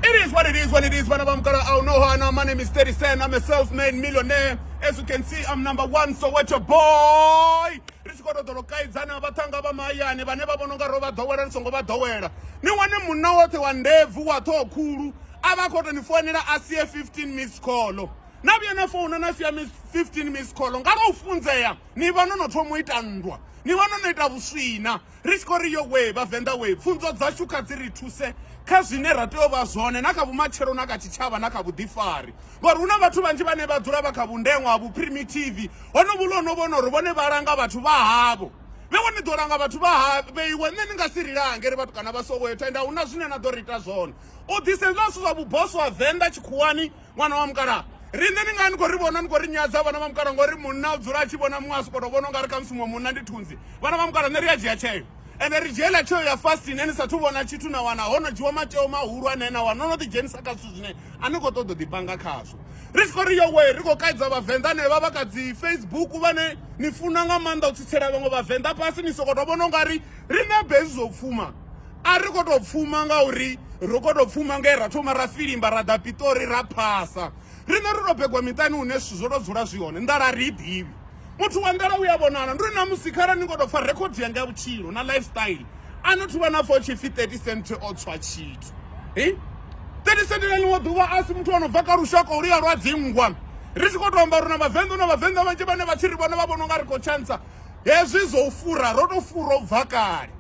It is what it is when it is when I'm gonna oh no no my name is 30 Cent I'm a self-made millionaire as you can see I'm number one so what your boy ri tshi khou tou ḓolo kaidzana vhaṱhanga vha mahayani vhane vha vhona unga ro vha ḓowela ri songo vha ḓowela ni wane munna woṱhe wa ndebvu wa ṱhoho khulu a vha khou tou ni founela a sie 15 miss call na vhuya na founa na sia 15 miss call nga lwo funzea ni vha no no thoma u ita nndwa ni vha no no ita vhuswina Ri tshi khou ri yo wee vhavenḓa wee pfunzo dzashu kha dzi ri thuse kha zwine ra tea u vha zwone na kha vhumatshelo na kha tshitshavha na kha vhuḓifari ngori hu na vhathu vhanzhi vhane vha dzula vha kha vhundeṅwa ha vhuprimitive honovhu lo no vhona uri vhone vha langa vhathu vha havho vhe vhone ḓo langa vhathu vha ha vheiwe nṋe ni nga si ri lange ri vhathu kana vha soweyo tenda hu na zwine na ḓo ri ita zwone u ḓise zwa zwithu zwa vhuboso ha venḓa tshikhuwani ṅwana wa mukalaha riṋe ni nga ni khou ri vhona ni khou ri nyadza vhana vha mukalaha ngori munna u dzula a tshi vhona muṅwe a soko to vhona u nga ri khamusi muṅwe munna ndi thunzi vhana vha mukalaha nṋe ri a dzhia tsheo ende ri dzhiela tsheo ya fast ine ni sathu vhona tshithu na wana ho no dzhiwa matsheo mahulu ane na wana no no ḓidzhenisa kha zwithu zwine a ni khou ṱoḓa u ḓipanga khazwo ri tshi khou ri yowe ri khou kaidza vhavenḓa ne vha vha kha dzi facebook vhane ni funa nga maanḓa u tsitsela vhaṅwe vhavenḓa fhasi ni sokoto vhona u nga ri riṋe bezi zwo pfuma a ri khou tou pfuma ngauri ro khou tou pfuma nge ra thoma ra filimba ra ḓa piṱori ra phasa riṋe ro tou begwa miṱani hune zwithu zwo tou dzula zwi hone nḓala ri i ḓivhi muthu wa nḓala u ya vhonala ndi ri na musi khara ni khou tou pfha rekhodi yanga ya vhutshilo na lifestyle a no thuvha na pfha u tshi pfhi 30 cent o tswa tshithu hi 30 cent na ḽiṅwe ḓuvha a si muthu o no bva kha lushaka oluya lwa dzingwa ri tshi khou tou amba uri na vhavenḓa na vhavenḓa vhanzhi vhane vha tshi ri vhone vha vhona u nga ri khou tshantsa hezwi zwo u fura ro tou fura u bva kale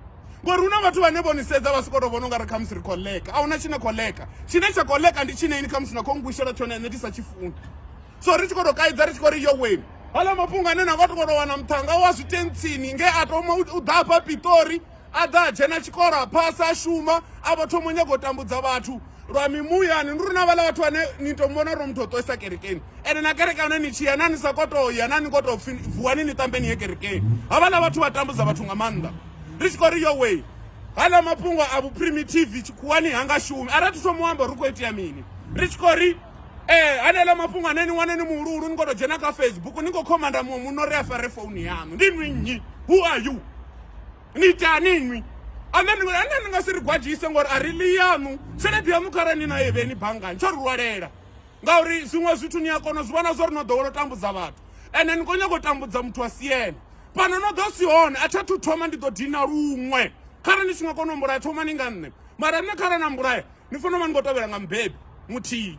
ngori hu na vhathu vhane vho ni sedza vha sokou tou vhona u nga ri khamusi ri khou leka a huna tshine khou leka tshine tsha khou leka ndi tshine ini khamusi na khou ngwishela tshone ene ndi sa tshi funi so ri tshi khou tou kaidza ri tshi khou ri yo weni hala mafhungo ane na vha tokoto wana muthanga wa zwitentsini nge a thoma u ḓa afha pitori a ḓa a dzhena tshikolo a phasa a shuma a vha thoma u nyaga u tambudza vhathu lwa mimuyani ndi uri na vhala vhathu vhane ni to muvhona uri muthu o ṱoisa kerekeni ende na kereke hone ni tshiya na ni sa koto ya na ni koto pfi vuwani ni tambeni ye kerekeni havhala vhathu vha tambudza vhathu nga maanḓa ri tshi khou ri yo way hala mafhungo a vhuprimitive tshikhuwani ha nga shumi ara thi thoma u amba ri khou itea mini ri tshi khou ri ee haneela mafhungo ane ni wane ni muhuluhulu ni khou to dzhena kha facebook ni khou khomanda muṅwe muno ri a fare founu yaṋu ndi nwi nnyi who are you ni itani nwi ane ni nga si ri gwadzhise ngori a ri ḽi yaṋu tshelede yaṋu khare ni na ye vheni banngani tsho ri lwalela ngauri zwiṅwe zwithu ni a kona zwi vhona zwo ri no ḓowela u tambudza vhathu ende ni khou nyanga u tambudza muthu a si ene fhano no ḓo si hone a thi athu thoma ndi ḓo dina luṅwe khare ni si nga kona u mbulaya thomani nga nṋe mara nṋe khare na mbulaya ni fanela u vha ni khou tevhela nga mubebi muthihi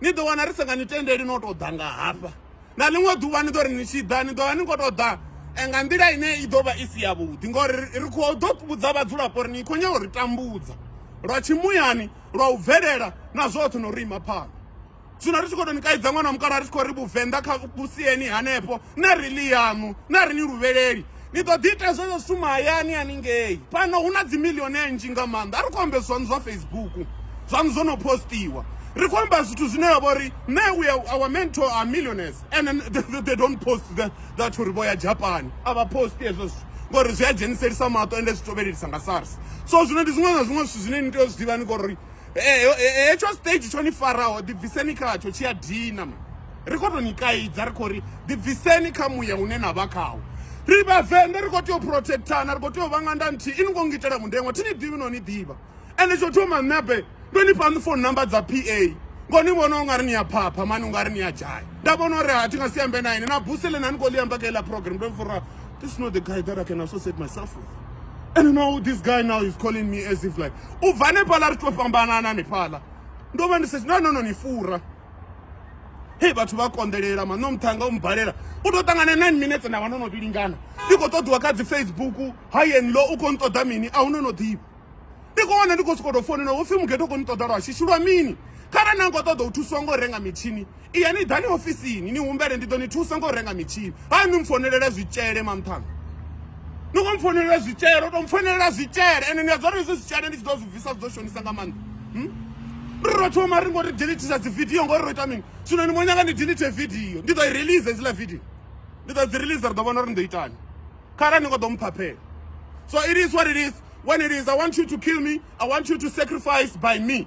ni ḓo wana ri sa nga ni tendeli no tou ḓa nga hafha na ḽiṅwe ḓuvha ni ḓo ri ni tshi ḓa ni ḓo vha ni khou tou ḓa eh, nga nḓila ine i ḓo vha i si yavhuḓi ngori ri khou ḓo vhudza vhadzulapo uri ni khou nyanga uri tambudza lwa tshimuyani lwa u bvelela na zwoṱhe no ri ima phanḓa zwino ri tshi khou tou ni kaidza ṅwana wa mukala ri tshi khou ri vhuvenḓa kha vhusieni hanefho na ri ḽi yaṋu na ri ni luvheleli ni ḓo ḓi ita zwezwo zwithu mahayani haningei fhano hu na dzimiliyoni nnzhi nga maanḓa a ri khou ambe zwaṋu zwa facebook zwaṋu zwo no postiwa ri khou amba zwithu zwine ya vha uri nṋe we our mentor are millionaires and they don't post the, that uri vho ya japan a vha posti hezwo zwithu ngori zwi a dzheniselisa maṱo ende zwi tovhelelisa nga sars so zwino ndi zwiṅwe na zwiṅwe zwithu zwine ni tea u zwi ḓivha ni kori heyo hetsho stage tsho ni faraho ḓibviseni khatsho tshi a dina ma ri khou tou ni kaidza ri khou ri ḓibviseni kha muya une na vha khawo ri vhavenḓa ri khou tea u protectana ri khou tea u vha nga nda nthihi i ni khou ngitela mundengo thi ni ḓivhi no ni ḓivha ende tsho thoma ṋebe ndo ni fhani phone number dza p a ngo ni vhona u nga ri ni ya phapha mani u nga ri ni ya dzhaya nda vhona uri ha thi nga si ambe na ine na buse ḽe na ni khou ḽi amba kha iḽa program ndo fura this is not the guy that i can associate myself with and now this guy now is calling me as if like u bva hanefhaḽa ri to fhambanana hanefhaḽa ndo vha ndi sa no no no ni fura hei vhathu vha konḓelela maṋo muṱhanga u mubalela u tou ṱangana nine minutes nda vha no no vhilingana ndi khou ṱoḓiwa kha dzi facebook high and low u khou nṱoḓa mini a hu no no ḓivha ndi khou wana ndi khou sokou tou founela hopfhi mugeto u khou ni ṱoḓa lwa shishi lwa mini kharali na khou ṱoḓa u thusiwa ngo renga mitshini iya ni ḓani ofisini ni humbele ndi ḓo ni thusa ngo renga mitshini ha ni mfonelela zwitshele mamthanga ni khou mfonelela zwitshele to mfonelela zwitshele ene ni a dzora izwi zwitshele ndi tshi ḓo zwi bvisa zwi ḓo shonisa nga maanḓa hmm? ri ro thoma ri ngo ri delitisa dzi video ngori ro ita mini zwino ni mo nyanga ni delite video ndi ḓo i release hedzila video ndi ḓo dzi release ri ḓo vhona uri ni ḓo itani khara ni ngo ḓo mphaphela so it is what it is when it is i want you to kill me i want you to sacrifice by me